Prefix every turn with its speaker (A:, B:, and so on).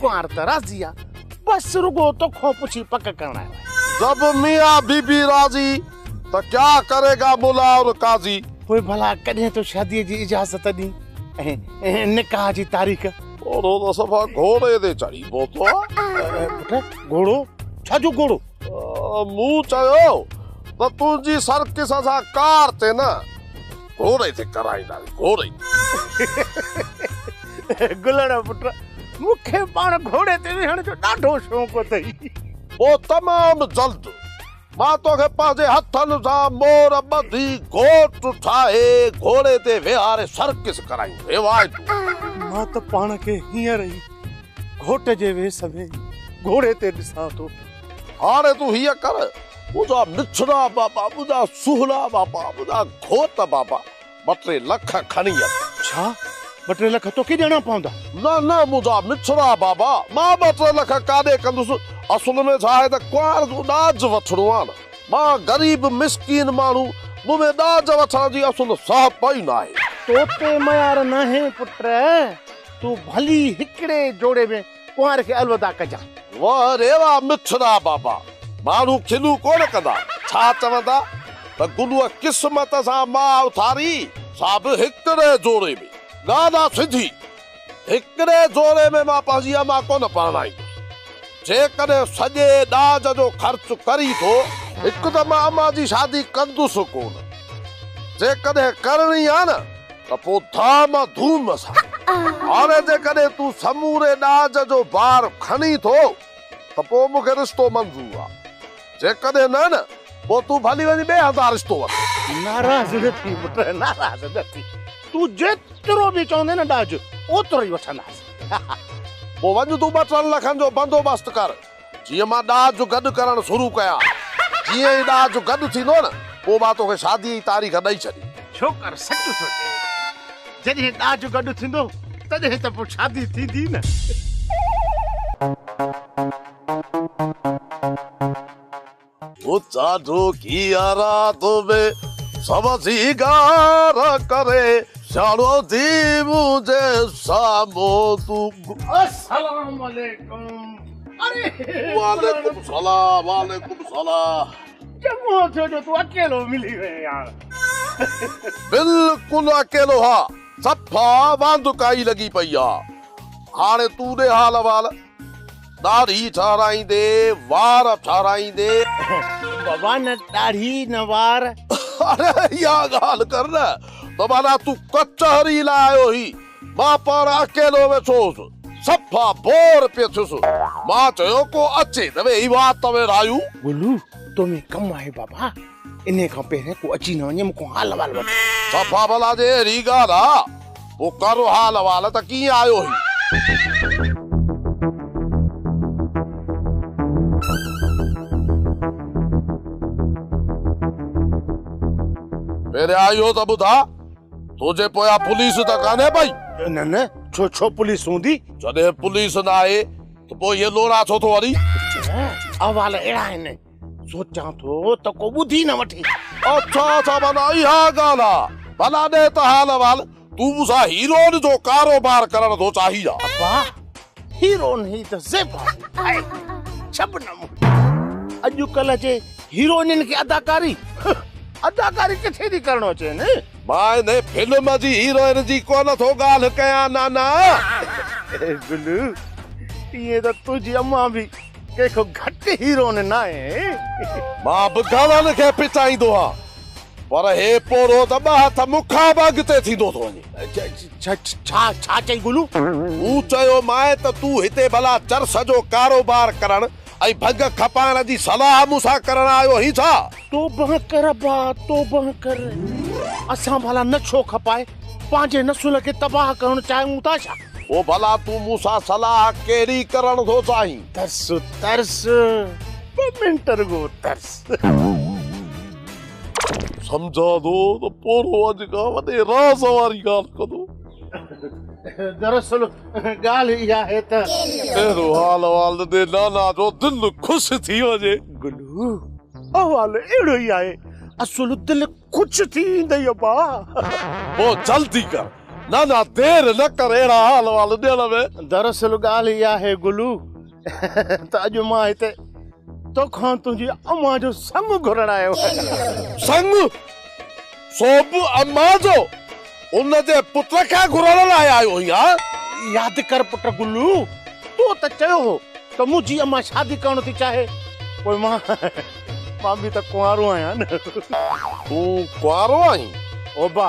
A: ڪنوار ته راضي آ بس رڳو توکان پڇي پڪ ڪرڻ آيو آهي. جب ميان بي
B: بي راضي ته ڪيا ڪري گا ملا اور قاضي. پوء ڀلا ڪڏهن
A: تو شاديء جي اجازت ڏين ۽ نڪاح جي تاريخ. گهوڙو ته صفا
B: گهوڙي تي چڙهي پهتو آ. پٽ گهوڙو
A: ڇا جو گهوڙو. مون
B: چيو ته تنهنجي سرڪس اسان ڪار تي نه. گهورئي تي ڪرائي ڏائي گهورئي.
A: گلڙا پٽ مون کي پاڻ گهوڙي تي ويهڻ جو ڏاڍو شوق اٿئي. پوء
B: تمام جلد مان توکي پنهنجي هٿن سان مور ٻڌي گهوٽ ٺاهي گهوڙي تي ويهاري سرڪس ڪرائين روايتون. مان ته
A: پاڻ کي هينئر ئي گهوٽ جي ويس ۾ گهوڙي تي ڏسان ٿو. هاڻي تون
B: هيئن ڪر ٻڌا ڏڇڙا بابا، ٻڌا سهڻا بابا، ٻڌا گهوٽ بابا، ٻه ٽي لک کڻي اچ. ڇا؟ ٻه
A: ٽي لک توکي ڏيڻا پوندا؟ نه نه ٻڌا
B: مٺڙا بابا، مان ٻه ٽي لک ڪاڏي ڪندس، اصل ۾ ڇا آهي ته ڪنوار جو ڏاج وٺڻو آهي نه، مان غريب مسڪين ماڻهو، مون ۾ ڏاج وٺڻ جي اصل سهپ ئي ناهي. تو تي ميار
A: ناهي پٽ، تون ڀلي هڪڙي جوڙي ۾ ڪنوار کي الوداع ڪجان. واه ريوا
B: مٺڙا بابا ماڻهو کلون ڪونه ڪندا ڇا چوندا ته گلوء قسمت سان ماء اٿاري سا به هڪڙي جوڙي ۾ نانا سنڌي هڪڙي جوڙي ۾ مان پنهنجي امان ڪونه پرڻائيندس جيڪڏهن سڄي ڏاج جو خرچ ڪري ٿو هڪ ته مان امان جي شادي ڪندس ڪونه جيڪڏهن ڪرڻي آ نه. ته پوء ڌام ۽ ڌوم سان. هاڻي جيڪڏهن تون سموري ڏاج جو بار کڻين ٿو ته پوء مون کي رشتو منظور آ. جيڪڏهن نه نه پوء تون ڀلي وڃي ٻئي هنڌان رشتو وٺ. ناراض نه ٿي
A: پٽ، ناراض نه ٿي. تون جيترو به چوندين نه ڏاج، اوترو ئي وٺنداسين. پوء
B: وڃ تون ٻه ٽن لکن جو بندوبست ڪر. جيئن مان ڏاج گڏ ڪرڻ شروع ڪيا. جيئن ئي ڏاج گڏ ٿيندو نه پوء مان توکي شاديء جي تاريخ ڏئي ڇڏي. ڇوڪر سچ ٿو چئي.
A: جڏهن ڏاج گڏ ٿيندو تڏهن ته پوء شادي ٿيندي نه.
B: اچا ڍوڪي رات ۾ سوسي گار ڪري سياڻو ٿي منهنجي سامهون تون. السلام عليڪم اري وعليڪم
A: سلام وعليڪم
B: سلام. چڱو ٿيو
A: جو تون اڪيلو ملي وئين يار. بلڪل
B: اڪيلو ها صفا واندڪائي لڳي پئي آ هاڻي تون ڏي حال احوال. ڏاڙهي ٺاراهيندي، وار ٺاراهيندي. بابا
A: نه ڏاڙهي نه وار. اڙي اها
B: ڳالهه ڪر نه ته معنيٰ تون ڪچهري لاء آيو هين. مان پاڻ اڪيلو ويٺو هوس. صفا بور پيو ٿيس. مان چيو ڪو اچي ته ويهي وات ته ويڙهايون. گلو تو
A: ۾ ڪم آهي بابا. انهيء کان پهرين ڪو اچي نه وڃي، مون کان حال احوال وٺ. صفا ڀلا جي
B: اهڙي ڳالهه آ، پوء ڪر حال احوال ته ڪيئن آيو هين؟ پهريان اهو ته ٻڌاء، تنهنجي پويان پوليس ته ڪانهي پئي؟ نه نه، ڇو
A: ڇو پوليس هوندي؟ جڏهن پوليس
B: ناهي ته پوء اهي لوڙا ڇو ٿو هڻين؟ احوال
A: اهڙا آهن. سوچان ٿو ته ڪو ٻڌي نه وٺي. اڇا اڇا
B: معنيٰ اها ڳالهه آ. ڀلا ڏي ته حال احوال. تون مون سان هيروئن جو ڪاروبار ڪرڻ ٿو چاهين ڇا؟ ابا
A: هيروئن هي ته زيبا آهي شبنم. اڄڪلهه جي هيروئنين کي اداڪاري اداڪاري ڪٿي ٿي ڪرڻو اچين. مان انهي فلم
B: جي هيروئن جي ڪونه ٿو ڳالهه ڪيان نانا. اي
A: بلو ائين ته تنهنجي امان به ڪنهن کان گهٽ هيروئن
B: ناهي.
A: مان به
B: گهڻن
A: کي
B: پچائيندو آهيان پر هي پورهو ته ٻه هٿ مون کان به اڳتي ٿيندو ٿو وڃي. ڇا
A: ڇا چئي گلو؟ مون چيومانء
B: ته تون هتي ڀلا چرس جو ڪاروبار ڪرڻ ۽ ڀنگ کپائڻ جي صلاح مون سان ڪرڻ آيو هين ڇا؟ توبه ڪر
A: ابا توبه ڪر اسان ڀلا نه ڇو کپائي پنهنجي نسل کي تباهه ڪرڻ چاهيون ٿا ڇا؟ پوء ڀلا تون
B: مون سان صلاح ڪهڙي ڪرڻ ٿو چاهين؟ ترس ترس
A: ٻه منٽ رڳو ترس.
B: سمجهان ٿو ته پورهئو اڄ ڪا وڏي راز واري ڳالهه ڪندو. دراصل
A: ڳالهه اها آهي ته. اهڙو حال
B: احوال ڏني نانا جو دل خوش ٿي وڃي. گلو،
A: احوال اهڙو ئي آهي. اصل دل خوش ٿي ويندئي ابا. پوء
B: جلدي ڪر نانا دير نه ڪر اهڙا حال احوال ڏيڻ ۾. دراصل ڳالهه اها
A: آهي گلو. ته اڄ مان هتي توکان تنهنجي امان جو سڱ گهرڻ آيو آهيان. سڱ؟
B: سو به امان جو؟ ان جي پٽ کي گهرڻ لاء آيو آهين ها؟ ياد ڪر پٽ
A: گلو، تو ته چيو هو ته منهنجي امان شادي ڪرڻ ٿي چاهي، پوء مان مان به ته ڪنوارو آهيان. تون
B: ڪنوارو آهين؟ اوبا!